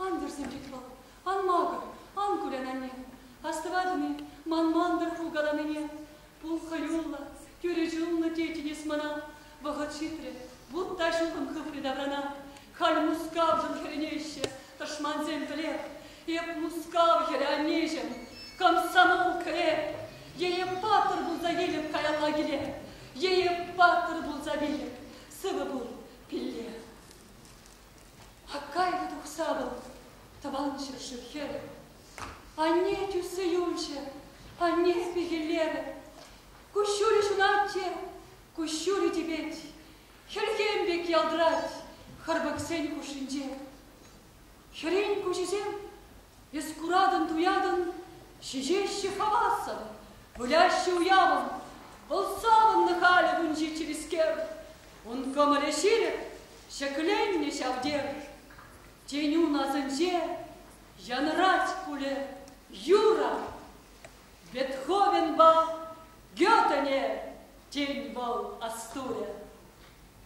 Ан вӗрсенчӗк вӑл, ан макӑр, ан кулян, анне. Астӑватӑн-и ман мантӑр кулкаланине? Пул хӑюллӑ, тӳрӗ чунлӑ тетӗн эс мана. Вӑхӑт ҫитрӗ, вут та ҫухӑм хыпрӗ таврана. Халь Мускавшӑн хӗрӗнеҫҫӗ тӑшмансем пӗлех. Эп Мускав хӗрӗ, аннеҫӗм, комсомол кӗреп. Е эп паттӑр пулса илӗп каялла киле, е эп паттӑр пулса вилӗп. Сывӑ пул, пилле. Аккайпа тухса вӑл тӑван ҫӗршыв хӗрӗ. Анне тӳссе юлчӗ, анне пехеллерӗ. Куҫҫулӗ ҫунатчӗ, куҫҫулӗ типет. Хӗлхем пек ялтӑрать хӑрпӑксен хушшинче. Хӗрен куҫӗсем Эс куратӑн-туятӑн, ҫиҫеҫҫӗ хавассӑн, выляҫҫӗ уявӑн, вӑл савӑннӑ халӗ вунҫи чӗрискер. Ун кӑмӑлӗ ҫирӗп, ҫӗкленнӗ ҫав тер. Тенюн асӗнче янӑрать пулӗ юрӑ. Бетховенпа Гётене, тен, вӑл астурӗ.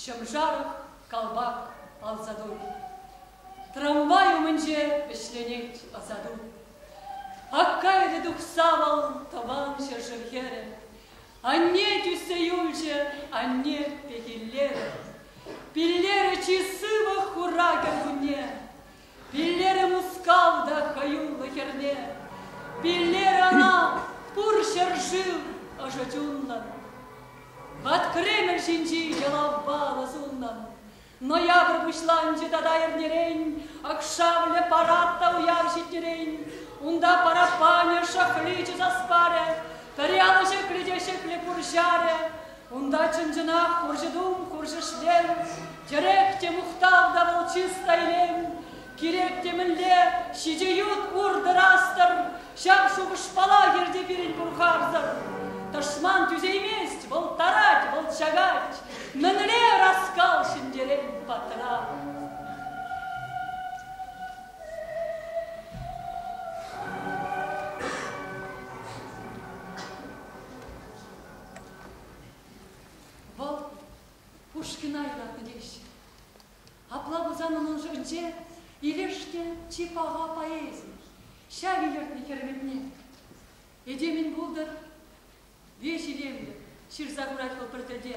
ҫӑмшар, калпак, ансату. Трамвай умӗнче вӗҫленет ӑсату. Аккайрӗ тухса вӑл тӑван ҫӗршыв хӗрӗ. Анне тӳссе юлчӗ, анне пехиллерӗ. Пиллерӗ чи сывӑх хура кӗркунне. Пиллерӗ Мускав та хӑюллӑ хӗрне, Пиллер ӑна пур ҫӗршыв ӑшӑ чунлӑн. Ват Кремль ҫинчи йӑлавпа ӑнӑ суннӑн, Ноябрь пуҫланчӗ тата эрнерен, Акшавлӗ парад та уяв ҫитнӗрен, Унта параппанӗ шӑхличӗ сас парӗ, Пӗри алӑ ҫӗклӗ те ҫӗклӗ пурҫарӗ, Унта чӑн-чӑнах хурҫӑ-тум, хурҫӑ-шлем, тӗрек те мухтав та вӑл чисто илем, кирек темӗнле ҫичӗ ют ур-тӑрастӑр, ҫав шухӑшпала ирти пирӗн Бурхарсӑр. Тӑшман тӳсеймест, вӑл тарать, вӑл чакать. Мӗнле ӑраскал ҫӗнтерен паттӑра! Вӑл Пушкина юратнӑ теҫҫӗ. Апла пулсан унӑн шутӗнче илеште чи паха поэзи, ҫав илӗртнӗ хӗрметне. Этемӗн пултӑр веҫ илемлӗ, ҫырса хурать вӑл пӗр тӗлте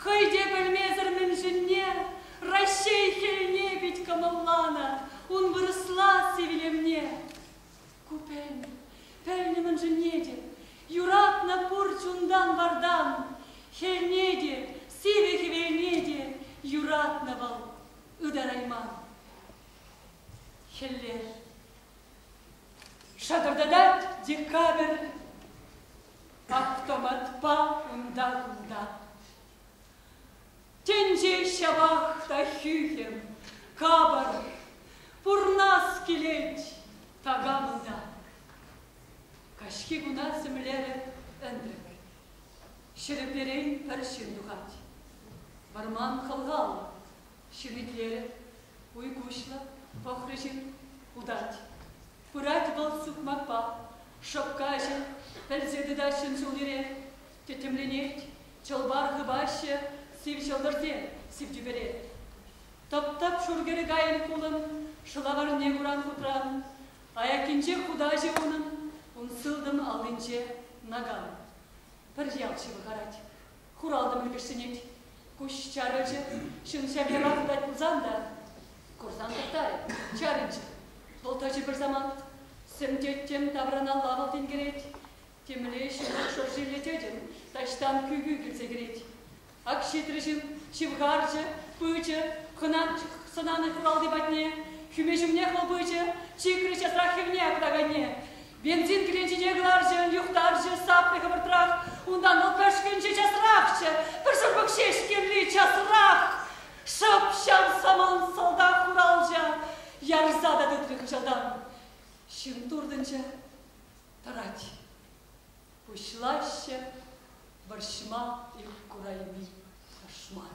Хӑй те пӗлмесӗр мӗн ҫӗнне Раҫҫей хӗлне пит кӑмӑлланӑ ун вырӑсласси вилӗмне. Ку пӗлнӗ, пӗлнӗ мӗн ҫӗнне те, Юратнӑ пур чунтан вартан, Хӗлне те, сивӗ хӗвелне те Юратнӑ вӑл ытарайман. Хӗллер. Шатӑртатать декабрь Автоматпа унта-кунта. Тӗнче ҫавах та хӳхӗм, капӑр, пурнас килет такамӑна. Каҫхи куна сӗмлерӗ ӗнтӗк. Ҫӗрӗперен пӗр ҫын тухать. Вӑрман хӑлхаллӑ, Ҫӗвитлерӗ. Уй куҫлӑ, пӑхрӗ ҫын. Утать. Пырать вӑл сукмакпа. Шӑпка ӗҫӗ. Пӗлсе тытаҫ ҫын ҫул-йӗре. Тӗттӗмленет. Чӑлпар хыпаҫҫӗ. Сив ҫӑлтӑрсем сив тӳпере. Тӑп-тӑп шур кӗрӗ кайӑн хулӑн. Шӑлаварне куран хутран. Аяккинчех хутаҫӗ унӑн. Ун сылтӑм аллинче, наган. Пӗр ял ҫывӑхарать. Хуралтӑ мӗлки ҫӗнет, куҫ чарӑнчӗ, ҫын ҫав яра тытать пулсан та, курсан тӑхтарӗ, чарӑнчӗ. Вӑл тӑчӗ пӗр самант, сӗм-тӗттӗм тавраналла вӑл тинкерет, темле ҫывӑх шӑршилле тӗтӗм таҫтан кӳ-кӳ килсе кӗрет. Ак ҫитрӗ ҫын, ҫывхарчӗ, пычӗ, хӑнанч сӑнанӑ хуралти патне, хӳме ҫумнех вӑл пычӗ, чикрӗ часрах хӗвне аклаканне. Бензин кӗленчине кӑларчӗ, юхтарчӗ сапни хӑвӑртрах. Унтан вӑл пӗшкӗнчӗ часрахчӗ. Пӗр шӑрпӑк ҫеҫ кирли часрах! Шӑп-ҫав самант салтак хуралҫа ярса та тытрӗ хыҫалтан. Ҫын туртӑнчӗ. Тӑрать. Пуҫлаҫҫӗ вӑрҫма ик курайми тӑшман.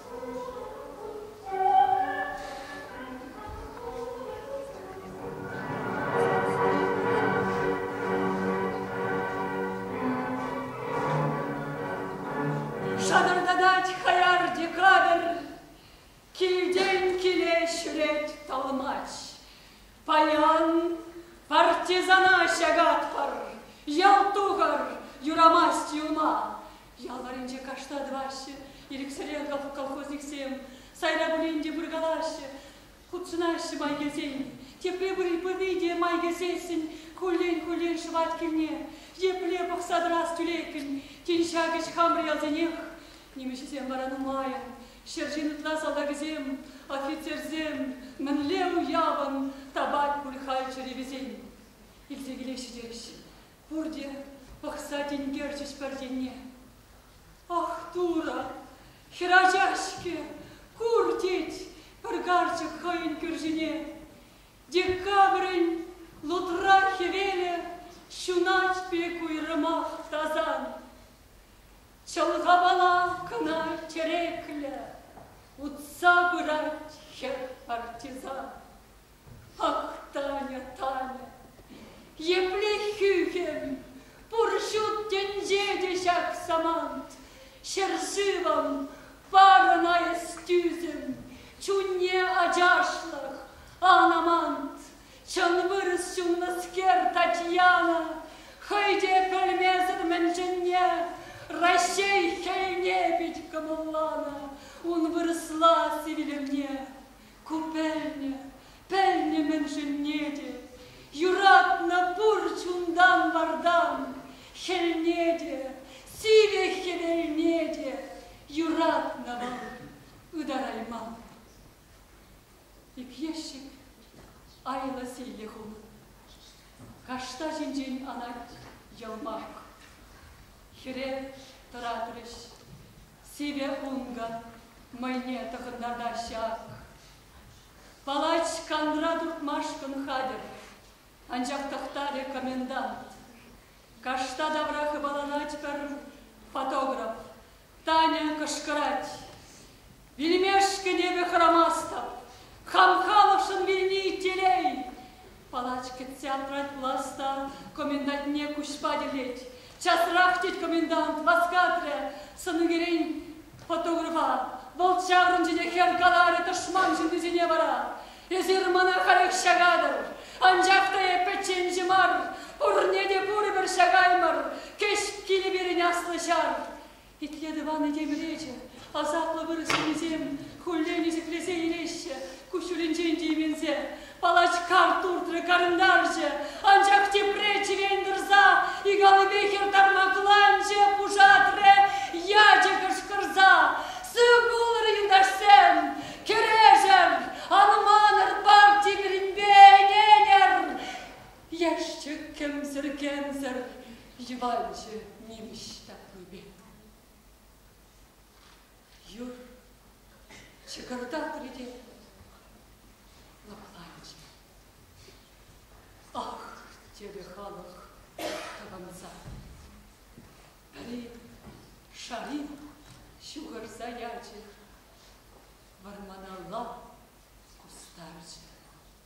Шатӑртатать хаяр декабрь, Килтен киле ҫӳрет талмач. Паян партизана ҫагатпӑр, Ял тухӑр, юрамасть юлма. Ял варринче кашта тӑваҫҫӗ, ирӗксӗрех колхозниксем сайра пулин те пыркалаҫҫӗ, хутшӑнаҫҫӗ май килсен. Тепре пыри те май кӗрсессӗн куллен-куллен шӑвать килне. Епле пӑхса тӑрас тӳлеккӗн тин ҫакӑҫ хамӑр ялсенех. Нимӗҫӗсем вара нумайӑн, ҫӗр ҫин ытла салтакӗсем, офицерсем мӗнле уявӑн тапать пуль халь чӗрепесен. Илсе килеҫҫӗ теҫҫӗ. Пурте пӑхса тинкерчӗҫ пӗр енне. Ах, Турӑ, хӗрача-ҫке, кур, тет пӗр карчӑк хӑйӗн кӳршине. Декабрӗн лутра хӗвелӗ ҫунать пек уйрӑмах тасан. Чӑлхапала кӑна тӗреклӗ утса пырать хӗр партизан. Ах, Таня, Таня, епле хӳхӗм! Пур ҫут тӗнче те ҫак самант, ҫӗршывӑм, парӑна эс тӳсӗм, чунне ачашлӑх, ан амант! Чӑн вырӑс ҫуннӑскер Татьяна хӑй те пӗлмесӗр мӗншӗнне Раҫҫей хӗлне пит кӑмӑлланӑ ун вырӑсла сивӗлӗвне. Ку пӗлнӗ, пӗлнӗ мӗншӗнне те. Юратнӑ пур чунтан-вартан хӗлне те, сивӗ хӗвелне те юратнӑ вӑл ытарайман. Ик ещӗк айлӑ силлӗ хум. Кашта ҫинчен анать йӑлмак. Хӗре тӑратрӗҫ. Сивӗ хункӑ мӑйне тӑхӑнтатаҫҫӗ ак. Палач канра туртмашкӑн хатӗр, анчах тӑхтарӗ комендант. Кашта тавра хыпаланать пӗр фотограф. Таня кӑшкӑрать. Вилмешкӗн эпӗ хӑрамастӑп. Хам халӑхшӑн вилни иккелей. Палачкин театраль пулас та комендантне куҫпа тӗллет. Часрах, тет комендант, васкатрӗ сӑнӳкерен фотографа. Вӑл чарӑнчӗ те хӗр каларӗ тӑшман ҫыннисене вара. Эсир мана халех ҫакатӑр, анчах та эп пӗчченҫӗ мар, пурне те пурпӗр ҫакаймӑр, кӗҫ килӗ пирӗн аслӑ ҫар. Итле, тӑван этем речӗ! Асаплӑ вырӑс ҫыннисем хуллен ӳсӗклесе илеҫҫӗ, куҫҫулӗнчен тейменсе. Палач карт туртрӗ, карӑнтарчӗ, анчах тепре чӗрен тӑрса ик аллипе хӗр тармакланчӗ, пушатрӗ ячӗ кӑшкӑрса. Сыв пулӑр, юлташсем! Кӗрешӗр! Ан аманӑр парти пирӗнпе ӗненӗр! Яшчӗ-кӗмсӗр-кӗмсӗр йӑванчӗ нимӗҫ ҫапли пек. Юр чӑкӑртатрӗ те лӑпланчӗ. Ах, терӗ халӑх тӑвӑнса. Пӗри шари ҫухӑрса ячӗ, вӑрманалла кустарчӗ.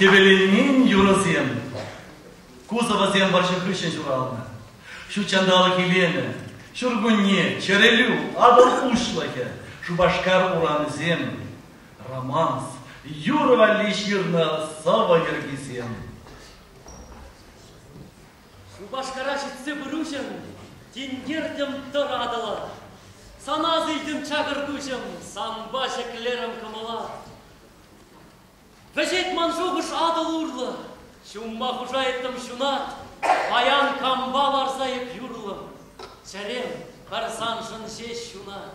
Хӗвеленмен юрӑсем, кузовасем вӑрҫӑ хыҫҫӑн ҫуралнӑ. Ҫут ҫанталӑк илемӗ, ҫуркунне, чӗрелӳ, Атӑл уҫлӑхӗ, Шупашкар урамӗсем, Романс, юрӑ валли ҫырнӑ сӑвӑ йӗркисем. Шупашкара ҫитсе пыруҫӑм, тинкертӗм тӑратӑла. Санас илтӗм чакӑртуҫӑм, санпа ҫӗклерӗм кӑмӑла. Вӗҫет ман шухӑш Атӑл урлӑ, ҫумма хушайӑттӑм ҫунат. Паян кампа ларса эп юрлӑм, чӗрем пӗр саншӑн ҫеҫ ҫунать.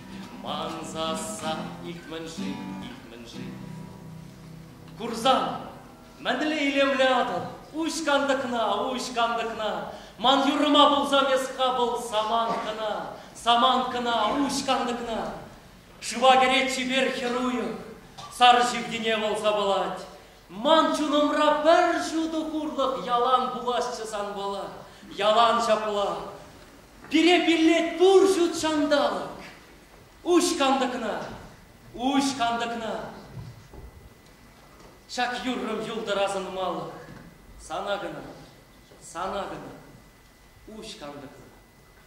Ман сасса ик-мӗн-ши, ик-мӗн-ши. Курсан, мӗнле илемлятӑн, уҫ кантӑкна, уҫ кантӑкна. Ман юрӑма пулсам эс хапӑл саманкӑна, саманкӑна, уҫ кантӑкна. Шыва кӗрет чипер хӗр уйӑх, сар ҫивкине вӑл сапалать. Ман чунӑмра пӗр ҫутӑ хурлӑх ялан пуласчӗ санпала, ялан ҫапла. Пире пиллет пур ҫут ҫанталӑк. Уҫ кантӑкна, уҫ кантӑкна. Ҫак юррӑм юлтӑр асӑнмалӑх. Сана кӑна, сана кӑна. Уҫ кантӑкна.